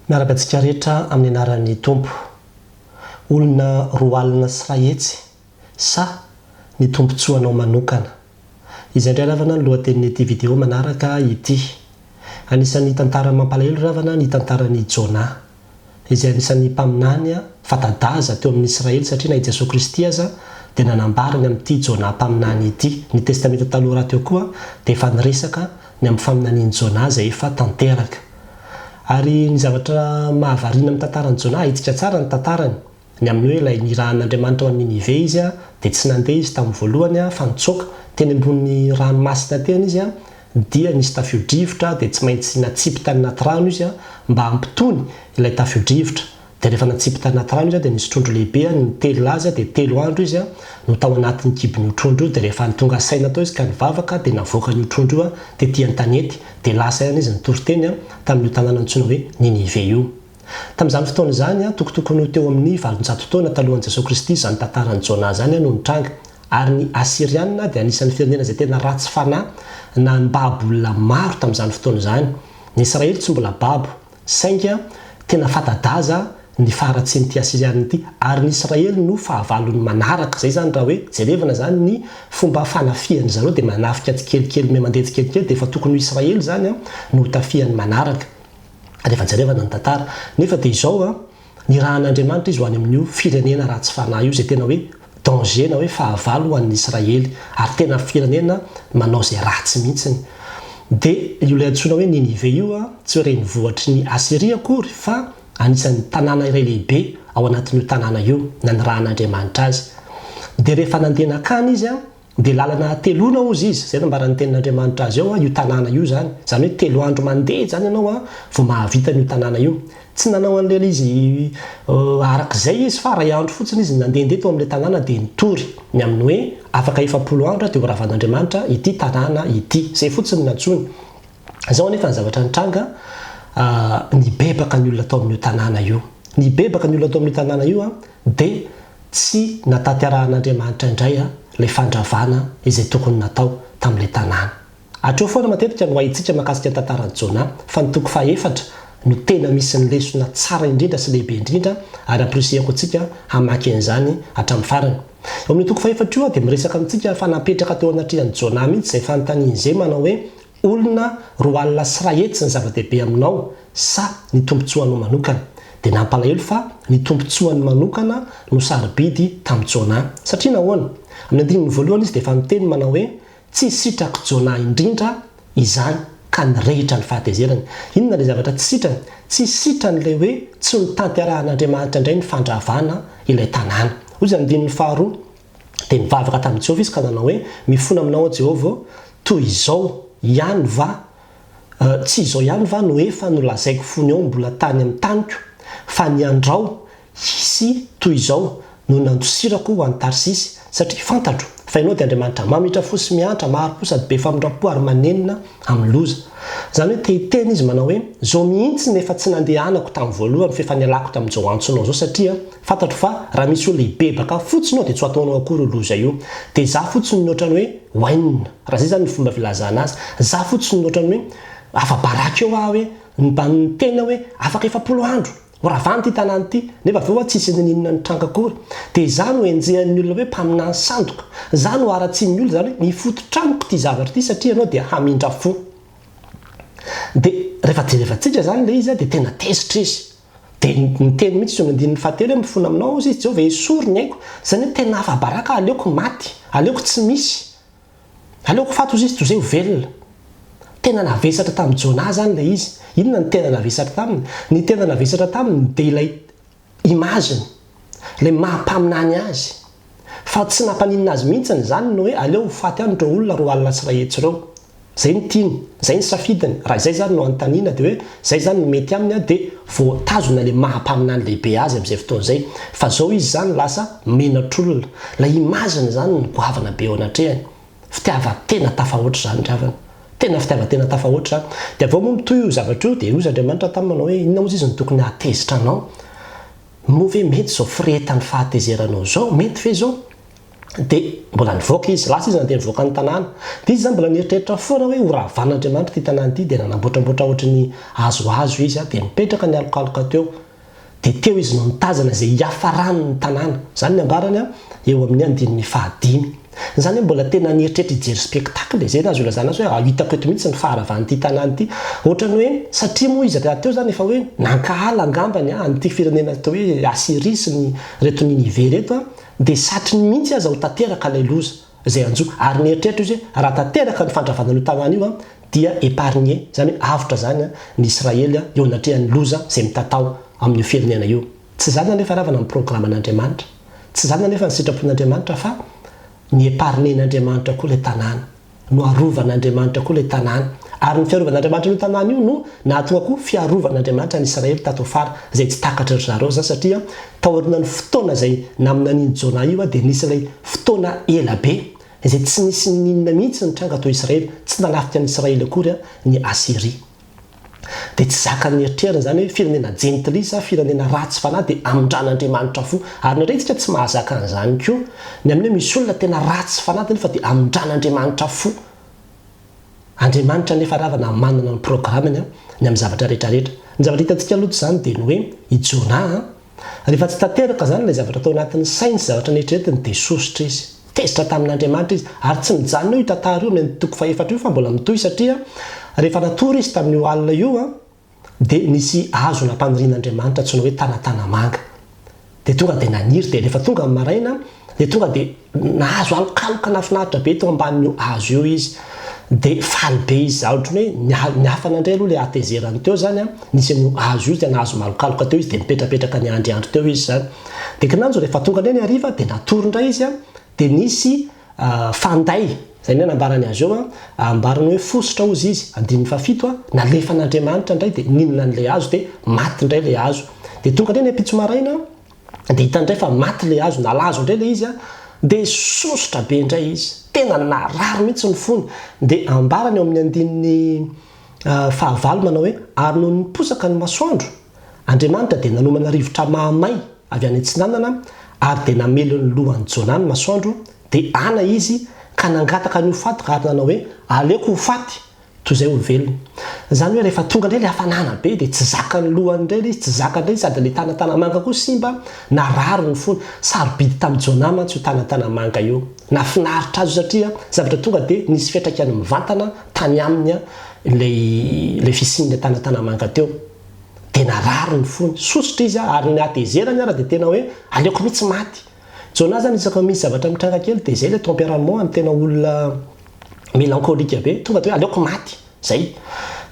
Miaraka antsika rehetra amin'ny anaran'ny Tompo. Olona roa alina sy iray hetsy sa ny tombontsoanao manokana? Izay indray ravana ny lohatenin'ity video manaraka ity. Anisan'ny tantara mampalahelo ravana ny tantaran'i Jonah. Izay anisan'ny mpaminany fanta-daza teo amin'ny Israely satria na i Jesoa Kristy aza dia nanambara ny amin'ity Jonah mpaminany ity. Ny Testamenta Taloha rahateo koa dia efa niresaka ny amin'ny faminanian'i Jonah izay efa tanteraka. Ary ny zavatra mahavariana amin'ny tantaran'i Jona, ahitsika tsara ny tantarany, ny amin'ny hoe ilay nirahan'Andriamanitra ho an'i Ninive izy, dia tsy nandeha izy tamin'ny voalohany, fa nitsoaka. Teny ambony ranomasina teny izy, dia nisy tafio-drivotra, dia tsy maintsy natsipy tany anaty rano izy, mba hampitony ilay tafio-drivotra. Dia rehefa natsipy tany anaty rano izy dia nisy trondro lehibe any nitelina azy dia telo andro izy no tao anatin'ny kibon'io trondro io dia rehefa nitonga saina tao izy ka nivavaka dia navoakany io trondro io tety an-tanety dia lasa ihany izy nitory teny tamin'io tanàna antsoina hoe Ninive io tamin'izany fotoana izany tokotokony ho teo amin'ny valonjato taona talohan'i Jesoa Kristy izany tantaran'i Jona izany no nitranga ary ny Asyriana dia anisan'ny firenena izay tena ratsy fanahy nambabo olona maro tamin'izany fotoana izany ny Israely tsy mbola babo Sainga tena fanta-daza ny faharatsian'ity Asiriana ity, ary ny Israely no fahavalony manaraka. Izay izany raha hoe jerevana izany ny fomba fanafihan'ny zareo dia manafika tsikelikely me mandeha tsikelikely dia efa tokony ho Israely izany no hotafihany manaraka rehefa jerevana ny tantara. Nefa dia izao. Nirahan'Andriamanitra izy ho any amin'io firenena ratsy fanahy io, izay tena hoe danger na hoe fahavalo ho an'ny Israely, ary tena firenena manao izay ratsy mihitsy. Dia io ilay antsoina hoe Ninive io, tsy hoe renivohitry ny Asyria akory, fa anisan'ny tanàna iray lehibe ao anatin'io tanàna io, nanirahan'Andriamanitra azy. Dia rehefa nandeha nankany izy, Dia lalana hateloana hozy izy, izay nambaran'ny tenin'Andriamanitra azy eo, io tanàna io izany. Izany hoe telo andro mandeha izany ianao vao mahavita an'io tanàna io. Tsy nanao an'ilay izy araka izay izy fa iray andro fotsiny izy no nandehandeha teo amin'ilay tanàna dia nitory ny amin'ny hoe afaka efapolo andro dia horavan'Andriamanitra ity tanàna ity. Izay fotsiny no nantsoiny. Izao anefa ny zavatra nitranga, nibebaka ny olona tao amin'io tanàna io. Nibebaka ny olona tao amin'io tanàna io dia Tsy nahatanterahan'Andriamanitra indray ilay fandravana izay tokony natao tamin'ilay tanàna. Hatreo foana matetika no haintsika mahakasika ny tantaran'i Jona, fa ny toko fahefatra no tena misy ny lesona tsara indrindra sy lehibe indrindra, ary amporisihako antsika hamaky an'izany hatramin'ny farany. Eo amin'io toko fahefatra io dia miresaka amintsika fa napetraka teo anatrehan'i Jona mihitsy izay fanontanian'izay manao hoe, Olona roa alina sy iray hetsy ny zava-dehibe aminao sa ny tombontsoanao manokana? Dia nampalahelo fa ny tombontsoany manokana no sarobidy tamin'i Jonah. Satria nahoana? Amin'ny andininy voalohany izy dia efa niteny manao hoe, Tsy sitrak'i Jonah indrindra izany, ka nirehitra ny fahatezerany. Inona ilay zavatra tsy sitrany? Tsy sitrany ilay hoe tsy notanterahan'Andriamanitra indray ny fandravana ilay tanàna. Hoy izany andininy faharoa. Dia nivavaka tamin'i Jehovah izy ka nanao hoe, Mifona aminao aho, Jehovah ô, toy izao ihany va, tsy izao ihany va no efa nolazaiko fony aho mbola tany amin'ny taniko, fa ny andrao hisy toy izao no nandosirako ho any Tarsisy? Satria fantatro fa ianao dia Andriamanitra maminitra fo sy miantra, mahari-po sady be famindram-po ary manenina amin'ny loza. Izany hoe te-hiteny izy manao hoe, Izao mihitsy no efa tsy nandehanako tamin'ny voalohany, f'efa nialako tamin'izao antsonao izao, satria, Fantatro fa raha misy olona hibebaka ahy fotsiny ao dia tsy ho ataonao akory io loza io. Dia za fotsiny no otrany hoe wainina, raha zay zany ny fomba filazana azy. Za fotsiny no otrany hoe afa-baraka eo aho hoe nibanin'ny tena hoe afaka efapolo andro, ho ravana ity tanàna ity, nefa avy eo aho tsy hisy nininona nitranga akory. Dia za no enjehan'ny olona hoe mpaminany sandoka. Za no haratsian'ny olona zany hoe mifototra amiko ity zavatra ity satria ianao dia hamindra fo. Dia rehefa jerevantsika zany ilay izy dia tena tezitra izy. Dia niteny mihitsy izy eo amin'ny andininy fahatelo hoe, Mifona aminao ozy izy Jehovah hesory ny aiko. Izany hoe tena afa-baraka, aleoko maty, aleoko tsy misy, aleoko faty ozy izy toy izay ho velona. Tena navesatra tamin'i Jonah izany ilay izy. Inona no tena navesatra taminy? Ny tena navesatra taminy dia ilay image-ny, ilay maha-mpaminany azy. Fa tsy nampaninona azy mihintsiny izany ny hoe aleo ho faty any ireo olona roa alina sy iray hetsy ireo. Izay ny tiany, izay ny safidiny, raha izay izany no anontaniana dia hoe izay izany no mety aminy an dia voatazona ilay maha mpaminany lehibe azy amin'izay fotoana izay. Fa izao izy izany lasa menatr'olona. Ilay image-ny izany no goavana be eo anatrehany. Fitiavan-tena tafahoatra izany ry havana. Tena fitiavan-tena tafahoatra izany. Dia avy eo moa mitohy io zavatra io dia hoy Andriamanitra taminy manao hoe inona moa izy no tokony hahatezitra anao? Moa ve mety izao firehetan'ny fahatezeranao izao, mety ve izao? Dia mbola nivoaka izy, lasa izy nandeha nivoaka ny tanàna. Dia izy izany mbola nieritreritra foana hoe horavan'Andriamanitra ity tanàna ity, dia nanambotrambotra ohatry ny hazohazo izy, dia nipetraka nialokaloka teo. Dia teo izy no nitazana izay hiafaran'ny tanàna. Izany ny ambarany eo amin'ny andininy fahadimy. Izany hoe mbola tena nieritreritra hijery spectacle e! Izay no azo ilazana azy hoe ah hitako eto mihitsy ny faharavan'ity tanàna ity. Ohatrany hoe satria moa izy rahateo izany efa hoe nankahala angambany an an'ity firenena atao hoe Asyria sy ny reto Ninive reto an dia satriny mihitsy aza ho tanteraka ilay loza izay hanjo ary nieritreritra izy hoe raha tanteraka ny fandravana an'io tanàna io an dia épargné izany hoe avotra izany an ny Israely an eo anatrehan'ny loza izay mitatao amin'io firenena io. Tsy izany anefa ravana ny programan'Andriamanitra. Tsy izany anefa ny sitrapon'Andriamanitra fa ny épargner-n'Andriamanitra koa ilay tanàna. Noharovan'Andriamanitra koa ilay tanàna. Ary ny fiarovan'Andriamanitra an'io tanàna io no nahatonga koa fiarovan'Andriamanitra an'i Israely tato afara, izay tsy takatry ry zareo izany satria taorianan'io fotoana izay naminanian'i Jonah io dia nisy ilay fotoana ela be izay tsy nisy n'inona mihitsy ny tranga tao Israely, tsy nanafika an'i Israely akory ny Asyria. dia tsy zakan'ny eritreriny izany hoe firenena jentilly sa firenena ratsy fanahy dia amindran'Andriamanitra fo ary indraindray isika tsy mahazaka an'izany koa ny amin'ny hoe misy olona tena ratsy fanahy dia nefa dia amindran'Andriamanitra fo Andriamanitra nefa ravana manana ny programmeny ny amin'ny zavatra rehetra rehetra ny zavatra hitantsika aloha izany dia ny hoe i Jonah Rehefa tsy tanteraka izany ilay zavatra tao anatin'ny sainy sy zavatra neritreretiny dia sosotra izy. Tezitra tamin'Andriamanitra izy. Ary tsy mijanona eo io tantara io, ny toko fahefatra io fa mbola mitohy satria rehefa natory izy tamin'io alina io dia nisy hazo nampanirin'Andriamanitra antsoina hoe Tanatanamanga. Dia tonga dia naniry dia rehefa tonga ny maraina dia tonga dia Nahazo alokaloka nahafinaritra be teo ambanin'io hazo io izy. Dia faly be izy zany ohatran'ny hoe ny niafana indray aloha ilay hatezerany teo izany an, nisy an'io hazo io izay nahazo malokaloka teo izy dia nipetrapetraka niandriandry teo izy izany. Dia kinanjo rehefa tonga indray ny hariva dia natory indray izy an, dia nisy fanday, izay indray nambarany azy eo an, ambarany hoe fositra hozy izy, andininy fahafito an, nalefan'Andriamanitra indray dia nihinana an'ilay hazo dia maty indray ilay hazo. Dia tonga indray ny ampitso maraina, dia hitany indray fa maty ilay hazo, nalazo indray ilay izy an, dia sosotra be indray izy, tena narary mihitsy ny fony, dia ambarany ao amin'ny andininy fahavalo manao hoe, ary nony niposaka ny masoandro, Andriamanitra dia nanomana rivotra mahamay avy any atsinanana, ary dia namely ny lohan'i Jonah ny masoandro, dia ana izy ka nangataka ny ho faty ka ary nanao hoe, aleoko ho faty Toy izay olombelona. Izany hoe rehefa tonga indray ilay hafanana be dia tsy zakan'ny lohany indray ilay izy, tsy zakany indray sady ilay tana tanamanga koa simba na rariny fony. Sarobidy tamin'i Jonah mantsy io tana tanamanga io. Nahafinaritra azy io satria zavatra tonga dia nisy fiantraikany mivantana tany aminy ilay ilay fisian'ilay tana tanamanga teo. Dia narary ny fony. Sosotra izy ary ny hatezerany ary dia tena hoe aleoko mihitsy maty. Jonah zany isaky ny misy zavatra mitranga kely dia zay le tempérament any tena olona mélancolique be tonga de hoe aleoko maty zay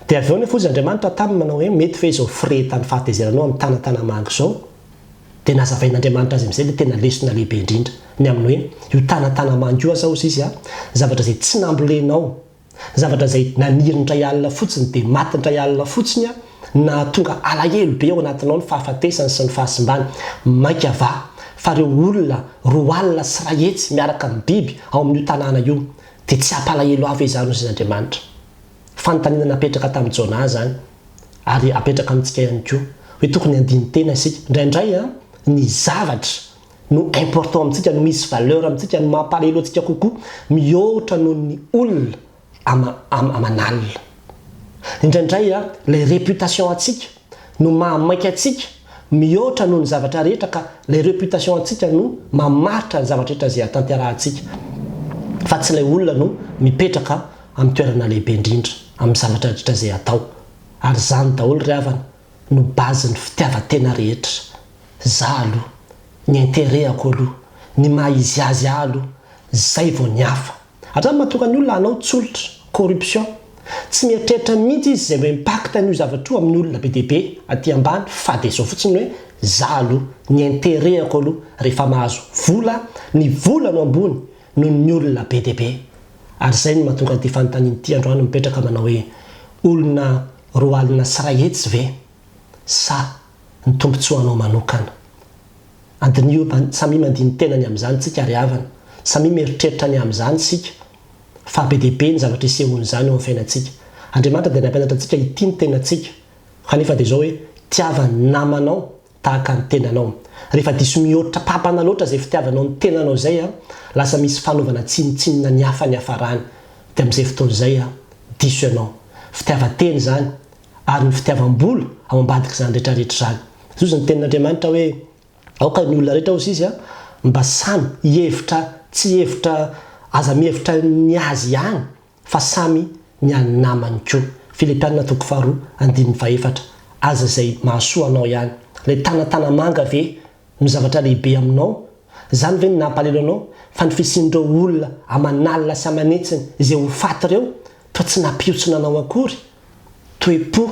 dia avy eo nefa ozy Andriamanitra taminy manao hoe mety ve izao firehetan'ny fahatezeranao amin'ny tanatana-mangy izao dia nazavain'Andriamanitra azy amin'izay le tena lesona lehibe indrindra ny amin'ny hoe io tanatana-mangy io aza ozy izy zavatra izay tsy nambolenao Zavatra izay naniry ny ray alina fotsiny dia maty ny ray alina fotsiny an! Nahatonga alahelo be ao anatinao ny fahafatesany sy ny fahasimbany. Mainka va fa ireo olona roa alina sy iray hetsy miaraka amin'ny biby ao amin'io tanàna io dia tsy hampalahelo ahy ve izany hoy Andriamanitra? Fanontaniana napetraka tamin'i Jonah izany ary apetraka amintsika ihany koa hoe tokony handini-tena isika indraindray an! Ny zavatra no important amintsika, no misy valeur amintsika, no mampalahelo antsika kokoa mihoatra noho ny olona ama, ama, aman'alina. Indraindray a, ilay reputation antsika no mahamaika antsika mihoatra noho ny zavatra rehetra ka ilay reputation antsika no mamaritra ny zavatra rehetra izay atanterahantsika fa tsy ilay olona no mipetraka amin'ny toerana lehibe indrindra amin'ny zavatra rehetra izay atao. Ary izany daholo ry havana no base ny fitiavan-tena rehetra, za aloha, ny interehako aloha, ny maha izy azy ahy aloha, zay vao ny hafa. Andramo mahatonga ny olona hanao tsolotra, corruption, tsy mieritreritra mihitsy izy zay ho impact an'io zavatra io amin'ny olona be dia be aty ambany fa dia zao fotsiny hoe za aloha, ny interehako aloha, rehefa mahazo vola aho, ny vola no ambony noho ny olona be dia be. Ary zay no mahatonga an'ity fanontaniana ity androany mipetraka manao hoe olona Roa alina sy iray hetsy ve sa ny tombontsoanao manokana? Adinio an, samia mandia ny tenany amin'izany isika ry havana, samia mieritreritra ny amin'izany isika fa be dia be ny zavatra isehoan'izany eo amin'ny fiainantsika. Andriamanitra dia nampianatra antsika hitia ny tenantsika, kanefa dia izao hoe, tiava ny namanao tahaka ny tenanao. Rehefa diso mihoatra papana loatra izay fitiavanao ny tenanao izay an, lasa misy fanaovana tsinontsinona ny hafa niafarany. Dia amin'izay fotoana izay an, diso ianao. Fitiavan-tena izany, ary ny fitiavam-bola ao ambadik'izany rehetra rehetra izany. Izao izy ny tenin'Andriamanitra hoe, Aoka ny olona rehetra hozy izy an, mba samy hihevitra tsy hevitra, aza mihevitra ny azy ihany. fa samy ny an'ny namany koa. Filipiana toko faharoa andininy fahefatra Aza izay mahasoa anao ihany. Ilay tana tana manga ve no zavatra lehibe aminao? Izany ve no nampalelo anao fa ny fisian'ireo olona aman'alina sy aman'hetsiny izay ho faty ireo toa tsy nampihontsona anao akory? Toe-po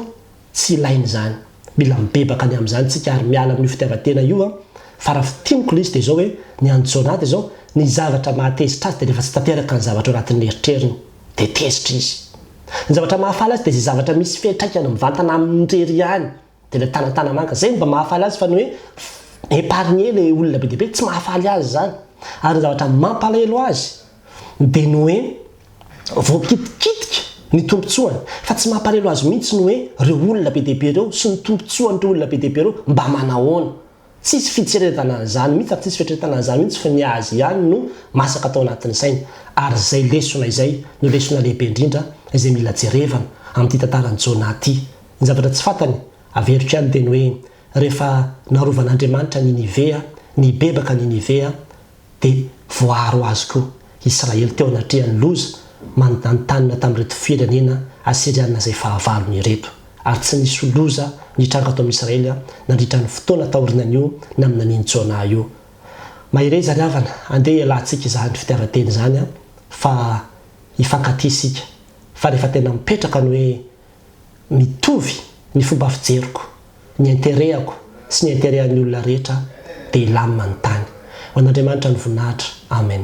tsy ilaina izany. Mila mibebaka ny amin'izany tsika ary miala amin'io fitiavan-tena io an! Fa raha fintiniko ilay izy dia izao hoe, ny an'i Jonah dia izao, ny zavatra mahatezitra azy dia rehefa tsy tanteraka ny zavatra ao anatin'ny eritreriny dia tezitra izy. Ny zavatra mahafaly azy dia izay zavatra misy fiantraikany mivantana aminy irery ihany. Dia ilay tanan-tanamanga. Izay no mba mahafaly azy fa ny hoe épargner ilay olona be dia be, tsy mahafaly azy izany. Ary ny zavatra mampalahelo azy dia ny hoe voakitikitika ny tombontsoany. Fa tsy mampalahelo azy mihitsy ny hoe ireo olona be dia be ireo sy ny tombontsoan'ireo olona be dia be ireo mba manahoana. Tsisy fitseretana an'izany mihitsy ary tsisy fieritreretana an'izany mihitsy fa ny azy ihany no masaka tao anatin'ny sainy. Ary izay lesona izay no lesona lehibe indrindra izay mila jerevana amin'ity tantaran'i Jona ity. Ny zavatra tsy fantany, averiko ihany ny teny hoe, rehefa narovan'Andriamanitra Ninivea, nibebaka Ninivea, dia voaro azy koa Israely teo anatrehan'ny loza manontantanina tamin'ireto firenena Asyriana izay fahavalony ireto, ary tsy nisy loza nitranga tao amin'i Israely nandritra ny fotoana taorinan'io na amin'ny nanin'i Jona io. Mahereza ry havana, andeha hialantsika izany fitiavan-teny izany fa hifankatia isika, fa rehefa tena mipetraka ny hoe mitovy ny fomba fijeriko, ny interehako sy ny interehan'ny olona rehetra dia hilamina ny tany. Ho an'Andriamanitra ny voninahitra. Amen.